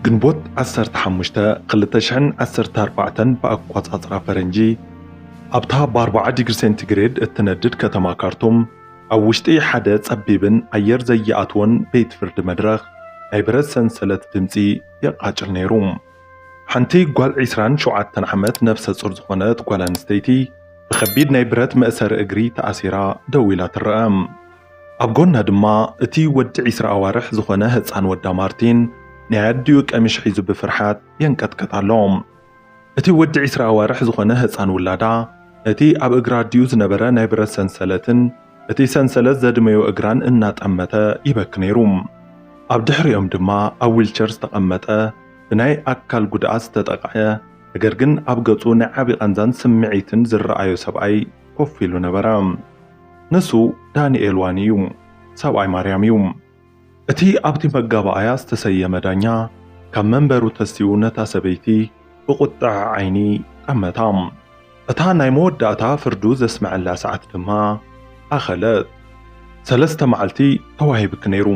ግንቦት ዓሰርተ ሓሙሽተ ክልተ ሽሕን ዓሰርተ ኣርባዕተን ብኣቆጻጽራ ፈረንጂ ኣብታ ብኣርብዓ ዲግሪ ሴንቲግሬድ እትነድድ ከተማ ካርቱም ኣብ ውሽጢ ሓደ ጸቢብን ኣየር ዘይኣትዎን ቤት ፍርዲ መድረኽ ናይ ብረት ሰንሰለት ድምጺ የቃጭል ነይሩ። ሓንቲ ጓል ዒስራን ሸውዓተን ዓመት ነፍሰ ጹር ዝኾነት ጓል ኣንስተይቲ ብከቢድ ናይ ብረት መእሰሪ እግሪ ተኣሲራ ደው ኢላ ትረኣ። ኣብ ጎና ድማ እቲ ወዲ ዕስራ ኣዋርሕ ዝኾነ ህጻን ወዳ ማርቲን ናይ ኣዲኡ ቀሚሽ ሒዙ ብፍርሓት የንቀጥቀጥ ኣሎ። እቲ ወዲ ዕስራ ኣዋርሕ ዝኾነ ህጻን ውላዳ ነቲ ኣብ እግራ ኣዲኡ ዝነበረ ናይ ብረት ሰንሰለትን እቲ ሰንሰለት ዘድመዮ እግራን እናጠመተ ይበኪ ነይሩ። ኣብ ድሕሪኦም ድማ ኣብ ዊልቸር ዝተቐመጠ ብናይ ኣካል ጉድኣት ዝተጠቕዐ ነገር ግን ኣብ ገጹ ናይ ዓቢ ቃንዛን ስምዒትን ዝረኣዮ ሰብኣይ ኮፍ ኢሉ ነበረ። ንሱ ዳንኤል ዋኒ እዩ፣ ሰብኣይ ማርያም እዩ። እቲ ኣብቲ መጋባኣያ ዝተሰየመ ዳኛ ካብ መንበሩ ተሲኡ ነታ ሰበይቲ ብቑጥዐ ዓይኒ ጠመታ። እታ ናይ መወዳእታ ፍርዱ ዘስመዐላ ሰዓት ድማ ኣኸለት። ሰለስተ መዓልቲ ተዋሂብኪ ነይሩ፣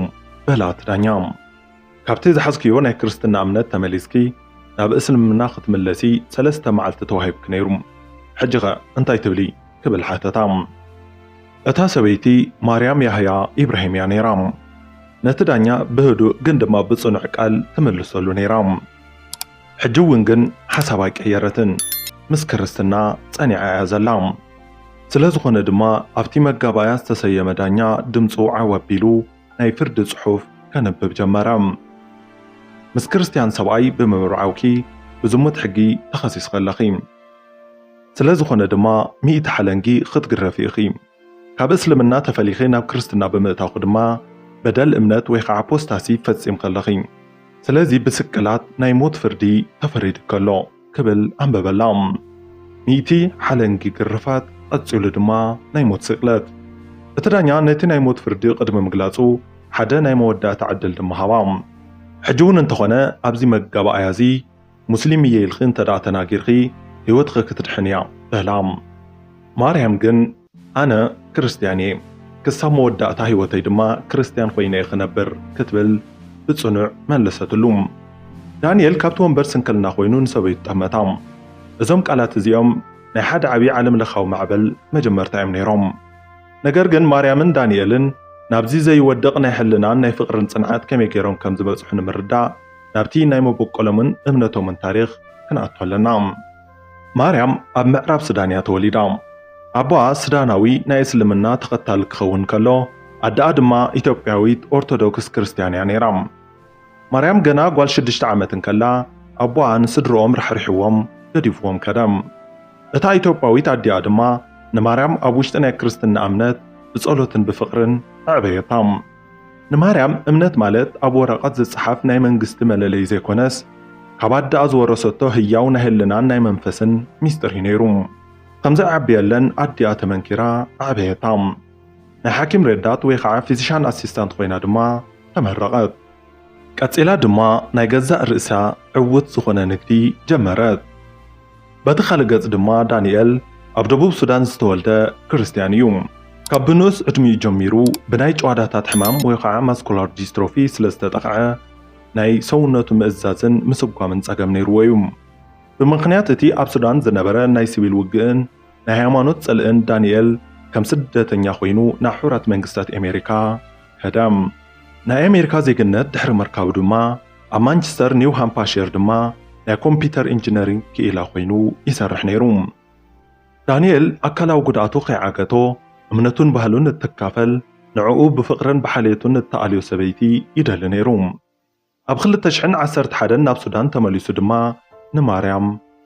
በላ እቲ ዳኛ። ካብቲ ዝሓዝክዮ ናይ ክርስትና እምነት ተመሊስኪ ናብ እስልምና ክትምለሲ ሰለስተ መዓልቲ ተዋሂብኪ ነይሩ ሕጂኸ እንታይ ትብሊ ክብል ሓተታ። እታ ሰበይቲ ማርያም ያህያ ኢብራሂም እያ ነይራ። ነቲ ዳኛ ብህዱእ ግን ድማ ብጽኑዕ ቃል ትምልሰሉ ነይራ። ሕጂ እውን ግን ሓሳባ ኣይቀየረትን ምስ ክርስትና ጸኒዓ እያ ዘላ። ስለዝኾነ ድማ ኣብቲ መጋባእያ ዝተሰየመ ዳኛ ድምጹ ዓው ኣቢሉ ናይ ፍርዲ ጽሑፍ ከንብብ ጀመረ። ምስ ክርስትያን ሰብኣይ ብምብርዓውኪ ብዝሙት ሕጊ ተኸሲስኺ ኣለኺ። ስለ ዝኾነ ድማ ሚእቲ ሓለንጊ ኽትግረፊ ኢኺ። ካብ እስልምና ተፈሊኺ ናብ ክርስትና ብምእታውኪ ድማ በደል እምነት ወይ ኸዓ ኣፖስታሲ ፈጺምኺ ኣለኺ። ስለዚ ብስቅላት ናይ ሞት ፍርዲ ተፈሪዱኪ ኣሎ። ክብል ኣንበበላ። ሚእቲ ሓለንጊ ግርፋት፣ ቐጺሉ ድማ ናይ ሞት ስቅለት። እቲ ዳኛ ነቲ ናይ ሞት ፍርዲ ቕድሚ ምግላጹ፣ ሓደ ናይ መወዳእታ ዕድል ድማ ሃባ። ሕጂ'ውን እንተኾነ ኣብዚ መጋባእያ'ዚ ሙስሊም እየ ኢልኪ እንተድኣ ተናጊርኪ፣ ህይወትኺ ክትድሕን እያ፣ በላ። ማርያም ግን። ኣነ ክርስትያን እየ፣ ክሳብ መወዳእታ ህይወተይ ድማ ክርስትያን ዀይነ እየ ኽነብር ክትብል ብጽኑዕ መለሰትሉ። ዳንኤል ካብቲ ወንበር ስንክልና ዀይኑ ንሰበይቱ ጠመታ። እዞም ቃላት እዚኦም ናይ ሓደ ዓብዪ ዓለምለኻዊ ማዕበል መጀመርታ እዮም ነይሮም። ነገር ግን ማርያምን ዳንኤልን ናብዚ ዘይወድቕ ናይ ሕልናን ናይ ፍቕርን ጽንዓት ከመይ ገይሮም ከም ዝበጽሑ ንምርዳእ ናብቲ ናይ መበቈሎምን እምነቶምን ታሪኽ ክንኣቱ ኣለና። ማርያም ኣብ ምዕራብ ሱዳን እያ ተወሊዳ። ኣቦኣ ሱዳናዊ ናይ እስልምና ተኸታሊ ክኸውን ከሎ፣ ኣደኣ ድማ ኢትዮጵያዊት ኦርቶዶክስ ክርስትያን እያ ነይራ። ማርያም ገና ጓል ሽዱሽተ ዓመት እንከላ ኣቦኣን ስድርኦም ራሕሪሕዎም ገዲፍዎም ከደ። እታ ኢትዮጵያዊት ኣዲኣ ድማ ንማርያም ኣብ ውሽጢ ናይ ክርስትና እምነት ብጸሎትን ብፍቕርን ኣዕበየታ። ንማርያም እምነት ማለት ኣብ ወረቐት ዝጸሓፍ ናይ መንግስቲ መለለይ ዘይኮነስ ካብ ኣደኣ ዝወረሰቶ ህያው ናይ ህልናን ናይ መንፈስን ሚስጥር እዩ ነይሩ። ከም ዘዕብየለን ኣዲኣ ተመንኪራ ኣዕበየታ። ናይ ሓኪም ረዳት ወይ ኸዓ ፊዚሻን ኣሲስታንት ኮይና ድማ ተመረቐት። ቀጺላ ድማ ናይ ገዛእ ርእሳ ዕዉት ዝኾነ ንግዲ ጀመረት። በቲ ካልእ ገጽ ድማ ዳንኤል ኣብ ደቡብ ሱዳን ዝተወልደ ክርስትያን እዩ። ካብ ብንኡስ ዕድሚኡ ጀሚሩ ብናይ ጭዋዳታት ሕማም ወይ ኸዓ ማስኩላር ዲስትሮፊ ስለ ዝተጠቕዐ ናይ ሰውነቱ ምእዛዝን ምስጓምን ጸገም ነይርዎ እዩ። ብምኽንያት እቲ ኣብ ሱዳን ዝነበረ ናይ ስቪል ውግእን ናይ ሃይማኖት ጽልእን ዳንኤል ከም ስደተኛ ኮይኑ ናብ ሕቡራት መንግስታት ኤሜሪካ ከደ። ናይ ኤሜሪካ ዜግነት ድሕሪ ምርካቡ ድማ፣ ኣብ ማንቸስተር ኒው ሃምፓሽር ድማ ናይ ኮምፒተር ኢንጂነሪንግ ክኢላ ኮይኑ ይሰርሕ ነይሩ። ዳንኤል ኣካላዊ ጉድኣቱ ከይዓገቶ እምነቱን ባህሉን እትካፈል፣ ንዕኡ ብፍቕርን ብሓልየቱን እትኣልዮ ሰበይቲ ይደሊ ነይሩ። ኣብ ክልተ ሽሕን ዓሰርተ ሓደን ናብ ሱዳን ተመሊሱ ድማ ንማርያም፣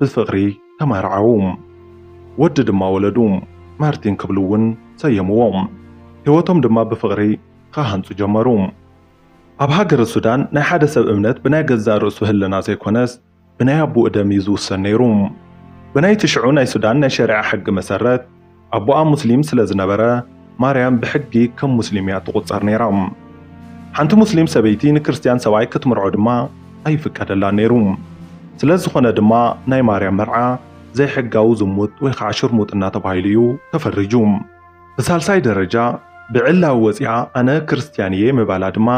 ብፍቕሪ ተማርዓዉ። ወዲ ድማ ወለዱ። ማርቲን ክብሉ እውን ሰየምዎ። ህይወቶም ድማ ብፍቕሪ ኽሃንጹ ጀመሩ። ኣብ ሃገረ ሱዳን ናይ ሓደ ሰብ እምነት ብናይ ገዛእ ርእሱ ህልና ዘይኮነስ ብናይ ኣቡኡ ደም እዩ ዝውሰን ነይሩ። ብናይቲ ሽዑ ናይ ሱዳን ናይ ሸሪዓ ሕጊ መሰረት፣ ኣቦኣ ሙስሊም ስለ ዝነበረ፣ ማርያም ብሕጊ ከም ሙስሊም እያ እትቝጸር ነይራ። ሓንቲ ሙስሊም ሰበይቲ ንክርስትያን ሰብኣይ ክትምርዖ ድማ ኣይፍቀደላን ነይሩ። ስለ ዝዀነ ድማ ናይ ማርያም መርዓ ዘይሕጋዊ ዝሙት ወይ ኸኣ ሽርሙጥና ተባሂሉ እዩ ተፈሪጁ። ብሳልሳይ ደረጃ፣ ብዕላዊ ወጺኣ ኣነ ክርስትያን እየ ምባላ ድማ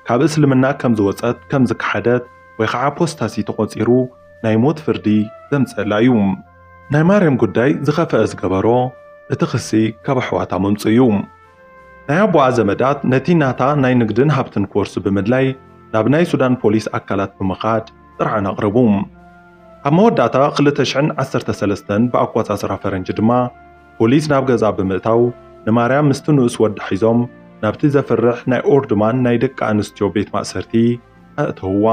ካብ እስልምና ከም ዝወጸት፣ ከም ዝከሓደት ወይ ኸኣ ኣፖስታሲ ተቖጺሩ ናይ ሞት ፍርዲ ዘምጽእላ እዩ። ናይ ማርያም ጉዳይ ዝኸፈኣ ዝገበሮ እቲ ክሲ ካብ ኣሕዋታ ምምጹ እዩ። ናይ ኣቦኣ ዘመዳት ነቲ ናታ ናይ ንግድን ሃብትን ክወርሱ ብምድላይ ናብ ናይ ሱዳን ፖሊስ ኣካላት ብምኻድ ጥርዓን ኣቕረቡ። ኣብ መወዳእታ ክልተ ሽሕን ዓሰርተ ሰለስተን ብኣቆጻጽራ ፈረንጂ ድማ ፖሊስ ናብ ገዝኣ ብምእታው ንማርያም ምስቲ ንኡስ ወዳ ሒዞም ናብቲ ዘፍርሕ ናይ ኦርድማን ናይ ደቂ ኣንስትዮ ቤት ማእሰርቲ ኣእተውዋ።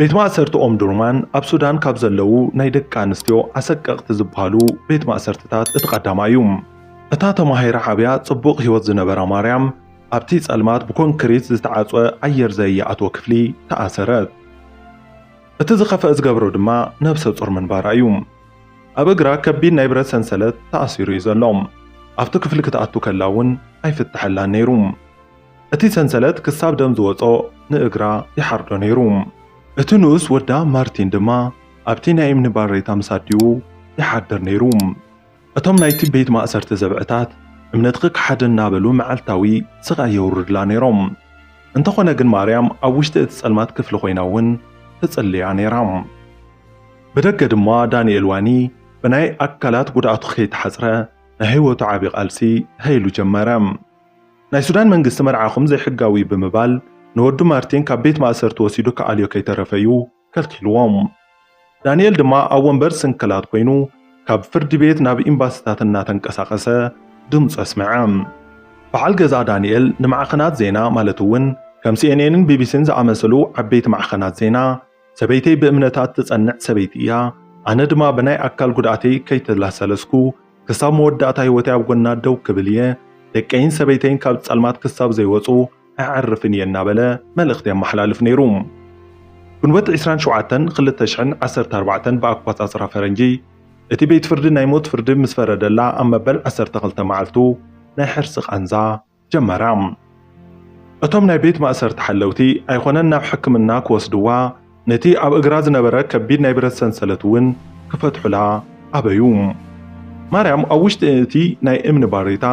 ቤት ማእሰርቲ ኦምዱርማን ኣብ ሱዳን ካብ ዘለዉ ናይ ደቂ ኣንስትዮ ኣሰቀቕቲ ዝበሃሉ ቤት ማእሰርትታት እቲ ቀዳማይ እዩ። እታ ተማሂራ ዓብያ ጽቡቕ ህይወት ዝነበራ ማርያም ኣብቲ ጸልማት ብኮንክሪት ዝተዓጽወ ኣየር ዘየኣትዎ ክፍሊ ተኣሰረት። እቲ ዝኸፍአ ዝገብሮ ድማ ነብሰ ጹር ምንባራ እዩ። ኣብ እግራ ከቢድ ናይ ብረት ሰንሰለት ተኣሲሩ እዩ ዘሎ። ኣብቲ ክፍሊ ክትኣቱ ከላ እውን ኣይፍተሐላን ነይሩ። እቲ ሰንሰለት ክሳብ ደም ዝወጾ ንእግራ ይሓርዶ ነይሩ። እቲ ንኡስ ወዳ ማርቲን ድማ ኣብቲ ናይ እምኒ ባሬታ ምስ ኣዲኡ ይሓድር ነይሩ። እቶም ናይቲ ቤት ማእሰርቲ ዘብዕታት እምነትኺ ክሓድን እናበሉ መዓልታዊ ስቓይ የውርዱላ ነይሮም። እንተኾነ ግን ማርያም ኣብ ውሽጢ እቲ ጸልማት ክፍሊ ኮይና እውን ትጽልያ ነይራ። ብደገ ድማ ዳንኤል ዋኒ ብናይ ኣካላት ጉድኣቱ ከይተሓጽረ ናይ ህይወቱ ዓቢ ቃልሲ ተኸይሉ ጀመረ። ናይ ሱዳን መንግስቲ መርዓኹም ዘይሕጋዊ እዩ ብምባል ንወዱ ማርቲን ካብ ቤት ማእሰርቲ ወሲዱ ክኣልዮ ከይተረፈ እዩ ከልኪልዎም። ዳኒኤል ድማ ኣብ ወንበር ስንክላት ኮይኑ ካብ ፍርዲ ቤት ናብ ኢምባሲታት እናተንቀሳቐሰ ድምጹ ኣስመዐ። በዓል ገዛ ዳኒኤል ንማዕኸናት ዜና ማለት እውን ከም ሲኤንኤንን ቢቢሲን ዝኣመሰሉ ዓበይቲ ማዕኸናት ዜና፣ ሰበይተይ ብእምነታ እትጸንዕ ሰበይቲ እያ፣ ኣነ ድማ ብናይ ኣካል ጉድኣተይ ከይተላሰለስኩ ክሳብ መወዳእታ ህይወተይ ኣብ ጎና ደው ክብል እየ፣ ደቀይን ሰበይተይን ካብ ጸልማት ክሳብ ዘይወጹ ኣየዕርፍን እየ እናበለ መልእኽቲ የመሓላልፍ ነይሩ። ግንቦት ዕስራን ሸውዓተን ክልተ ሽሕን ዓሰርተ ኣርባዕተን ብኣኳጻጽራ ፈረንጂ፣ እቲ ቤት ፍርዲ ናይ ሞት ፍርዲ ምስ ፈረደላ ኣብ መበል ዓሰርተ ክልተ መዓልቱ ናይ ሕርሲ ቃንዛ፣ ጀመራ። እቶም ናይ ቤት ማእሰርቲ ሓለውቲ ኣይኮነን ናብ ሕክምና ክወስድዋ ነቲ ኣብ እግራ ዝነበረ ከቢድ ናይ ብረት ሰንሰለት እውን ክፈትሑላ ኣበዩ። ማርያም ኣብ ውሽጢ እቲ ናይ እምኒ ባሬታ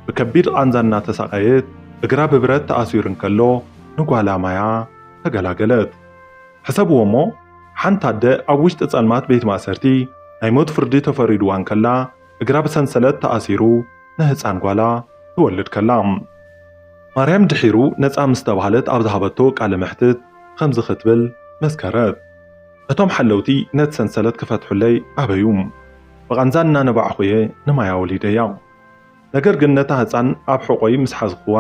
ብከቢድ ቓንዛ እናተሳቐየት እግራ ብብረት ተኣሲሩ እንከሎ ንጓላ ማያ ተገላገለት። ሕሰብዎ እሞ ሓንቲ ኣደ ኣብ ውሽጢ ጸልማት ቤት ማእሰርቲ ናይ ሞት ፍርዲ ተፈሪድዋ እንከላ፣ እግራ ብሰንሰለት ተኣሲሩ ንህጻን ጓላ ትወልድ ከላ። ማርያም ድሒሩ ነጻ ምስ ተባህለት ኣብ ዝሃበቶ ቃለ መሕትት ኸምዚ ኽትብል መስከረት፣ እቶም ሓለውቲ ነቲ ሰንሰለት ክፈትሑለይ ኣበዩ። ብቓንዛ እናነባዕኹ እየ ንማያ ወሊደያ። ነገር ግን ነታ ህጻን ኣብ ሕቖይ ምስ ሓዝኽዋ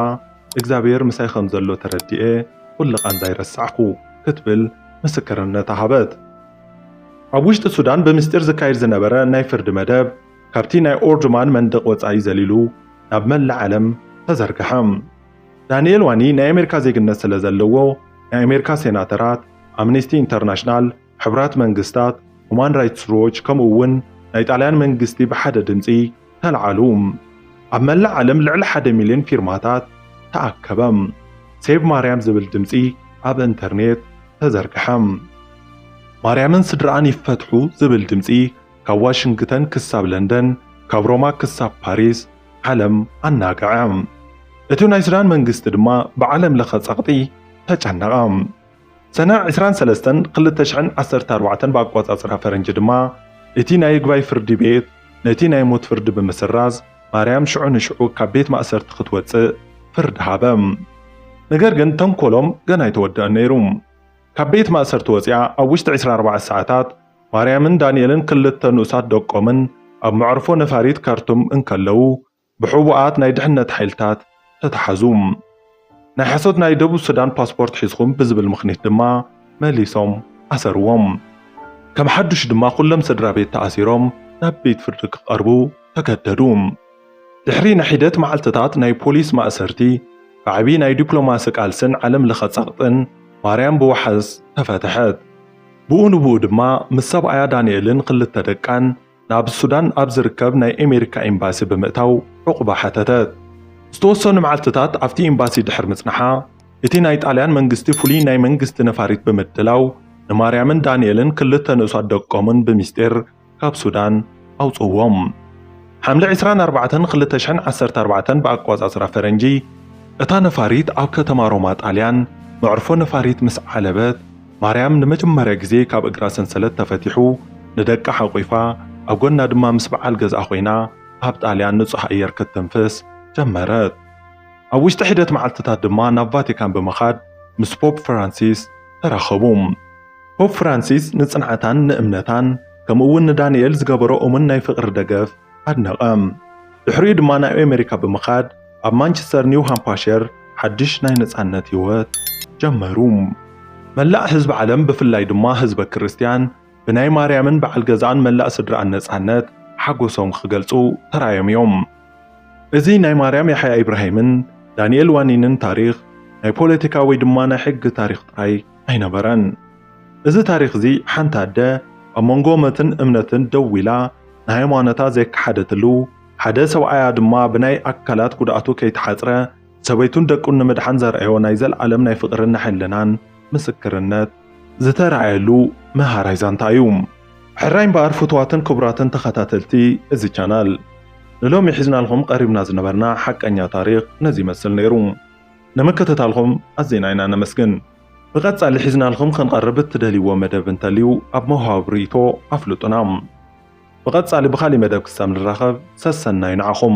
እግዚኣብሄር ምሳይ ኸም ዘሎ ተረዲኤ ኹሉ ቓንዛይ ረሳዕኩ ክትብል ምስክርነታ ሃበት። ኣብ ውሽጢ ሱዳን ብምስጢር ዝካየድ ዝነበረ ናይ ፍርዲ መደብ ካብቲ ናይ ኦርዱማን መንደቕ ወጻኢ ዘሊሉ ናብ መላእ ዓለም ተዘርግሐ። ዳንኤል ዋኒ ናይ ኣሜሪካ ዜግነት ስለ ዘለዎ፣ ናይ ኣሜሪካ ሴናተራት፣ ኣምነስቲ ኢንተርናሽናል፣ ሕቡራት መንግስታት፣ ሁማን ራይትስ ዎች ከምኡ'ውን ናይ ጣልያን መንግስቲ ብሓደ ድምጺ ተልዓሉ። ኣብ መላእ ዓለም ልዕሊ ሓደ ሚልዮን ፊርማታት ተኣከበ። ሴቭ ማርያም ዝብል ድምጺ ኣብ እንተርኔት ተዘርግሐ። ማርያምን ስድርኣን ይፈትሑ ዝብል ድምጺ ካብ ዋሽንግተን ክሳብ ለንደን፣ ካብ ሮማ ክሳብ ፓሪስ ዓለም ኣናግዐ። እቲ ናይ ሱዳን መንግስቲ ድማ ብዓለም ለኸ ጸቕጢ ተጨነቐ። ሰነ ዕስራን ሰለስተን ክልተ ሽሕን ዓሰርተ ኣርባዕተን ብኣቆጻጽራ ፈረንጂ ድማ እቲ ናይ ይግባይ ፍርዲ ቤት ነቲ ናይ ሞት ፍርዲ ብምስራዝ ማርያም ሽዑ ንሽዑ ካብ ቤት ማእሰርቲ ክትወጽእ ፍርዲ ሃበ። ነገር ግን ተንኮሎም ገና ኣይተወደኣን ነይሩ። ካብ ቤት ማእሰርቲ ወጺኣ ኣብ ውሽጢ ዕስራ ኣርባዕተ ሰዓታት ማርያምን ዳንኤልን ክልተ ንኡሳት ደቆምን ኣብ መዕርፎ ነፋሪት ካርቱም እንከለዉ ብሕቡኣት ናይ ድሕነት ሓይልታት ተታሓዙ። ናይ ሓሶት ናይ ደቡብ ሱዳን ፓስፖርት ሒዝኹም ብዝብል ምኽኒት ድማ መሊሶም ኣሰርዎም። ከም ሓዱሽ ድማ ኩሎም ስድራቤት ተኣሲሮም ናብ ቤት ፍርዲ ክቐርቡ ተገደዱ። ድሕሪ ንሒደት መዓልትታት ናይ ፖሊስ ማእሰርቲ፣ ብዓቢ ናይ ዲፕሎማሲ ቃልስን ዓለም ለኸ ጸቕጥን ማርያም ብዋሕስ ተፈትሐት። ብኡ ንብኡ ድማ ምስ ሰብኣያ ዳንኤልን ክልተ ደቃን፣ ናብ ሱዳን ኣብ ዝርከብ ናይ ኣሜሪካ ኤምባሲ ብምእታው ዑቕባ ሓተተት። ዝተወሰኑ መዓልትታት ኣብቲ ኤምባሲ ድሕሪ ምጽናሓ፣ እቲ ናይ ጣልያን መንግስቲ ፍሉይ ናይ መንግስቲ ነፋሪት ብምድላው ንማርያምን ዳንኤልን ክልተ ንኡሳት ደቆምን ብሚስጢር ካብ ሱዳን ኣውጽእዎም። ሓምለ ዕስራን ኣርባዕተን ክልተ ሽሕን ዓሰርተ ኣርባዕተን ብኣቆጻጽራ ፈረንጂ፣ እታ ነፋሪት ኣብ ከተማ ሮማ ጣልያን መዕርፎ ነፋሪት ምስ ዓለበት፣ ማርያም ንመጀመርያ ግዜ ካብ እግራ ሰንሰለት ተፈቲሑ ንደቃ ሓቊፋ ኣብ ጎና ድማ ምስ በዓል ገዝኣ ኮይና ኣብ ጣልያን ንጹህ ኣየር ክትትንፍስ ጀመረት። ኣብ ውሽጢ ሒደት መዓልትታት ድማ ናብ ቫቲካን ብምኻድ ምስ ፖፕ ፍራንሲስ ተራኸቡ። ፖፕ ፍራንሲስ ንጽንዓታን ንእምነታን ከምኡ'ውን ንዳንኤል ዝገበሮ እሙን ናይ ፍቕሪ ደገፍ ኣድነቐ። ድሕሪኡ ድማ ናብ ኤመሪካ ብምኻድ፣ ኣብ ማንቸስተር ኒው ሃምፓሸር ሓድሽ ናይ ነጻነት ህይወት ጀመሩ። መላእ ህዝቢ ዓለም ብፍላይ ድማ ህዝበ ክርስትያን ብናይ ማርያምን በዓል ገዛኣን መላእ ስድርኣን ነጻነት ሓጎሶም ክገልጹ ተራእዮም እዮም። እዚ ናይ ማርያም ያሕያ ኢብራሂምን ዳንኤል ዋኒንን ታሪኽ ናይ ፖለቲካ ወይ ድማ ናይ ሕጊ ታሪኽ ጥራይ ኣይነበረን። እዚ ታሪኽ እዚ ሓንቲ ኣደ ኣብ መንጎ መትን እምነትን ደው ኢላ ንሃይማኖታ ዘይከሓደትሉ፣ ሓደ ሰብኣያ ድማ ብናይ ኣካላት ጉድኣቱ ከይተሓጽረ ሰበይቱን ደቁን ንምድሓን ዘርኣዮ ናይ ዘልኣለም ናይ ፍቕርን ናይ ሕልናን ምስክርነት ዝተርኣየሉ መሃራይ ዛንታ እዩ። ሕራይ እምበኣር ፍቱዋትን ክቡራትን ተኸታተልቲ እዚ ቻናል ንሎሚ ሒዝናልኩም ቐሪብና ዝነበርና ሓቀኛ ታሪኽ ነዚ ይመስል ነይሩ። ንምክትታልኩም ኣዚና ኢና ነመስግን። ብቐጻሊ ሒዝናልኩም ክንቐርብ እትደልይዎ መደብ እንተልዩ ኣብ መውሃቢ ርኢቶ ኣፍልጡና። ብቐጻሊ ብኻልእ መደብ ክሳብ ንራኸብ ሰሰናዩ ንዓኹም።